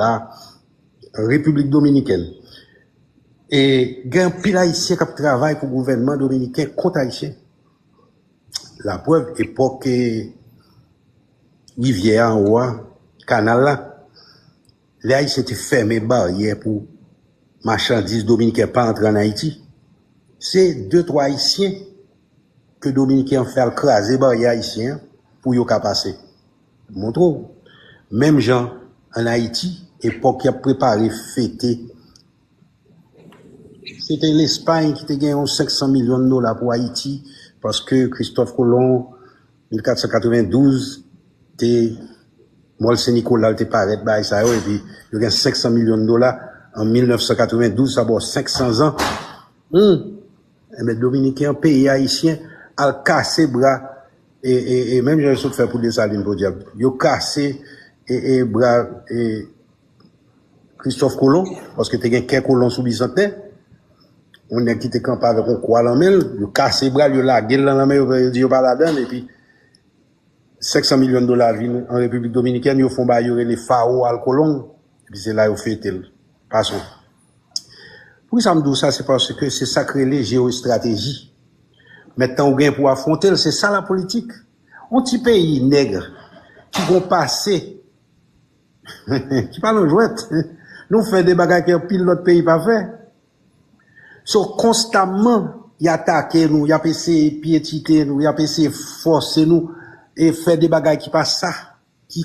la Repiblik Dominikèn. E gen anpil Ayisyen k ap travay pou gouvènman dominiken kont Ayisyen. Laprèv, epòk rivyè a anwo a, kanal la, lè Ayisyen te fèmen baryè pou machandiz dominiken pa antre ann Ayiti, se de twa Ayisyen ke dominiken an fè al kraze baryè ayisyen an pou yo ka pase. Montre w. Menm jan an Ayiti, epòk y ap prepare fete, se te Lespay ki te gen yon 500 milyon dola pou Ayiti, paske Kristòf Kolon, 1492, te Mòl Sen Nikola l te parèt, bagay sa yo, epi yo gen 500 milyon dola an 1992, sa ba w 500 zan. Hum! Enben, Dominiken an peye Ayisyen al kase bra E e e menm jan yo sot fè pou Desalin podyab. Yo kase e e bra e Kristòf Kolon, paske te gen kè kolon sou Bizantè. Yon nèg ki te kanpe avèk yon kwa lan men l, yo kase bra l, yo lage l lan lanmè, yo fè yo di yo pa ladan l, epi 500 milyon dola vin an Repiblik Dominikèn, yo fon bayo rele Faro al Colón, epi se la yo fete l. Pason. Pou kisa m di w sa se paske se sa k rele jewoestrateji mèt tan ou gen pou w afwonte l se sa lapolitik yon ti peyi nègre ki gen yon pase ki pa nan jwèt nou fè de bagay ke anpil lòt peyi pa fè so konstamman y atake nou y ap eseye pyetite nou y ap eseye fòse nou e fè de bagay ki pa sa.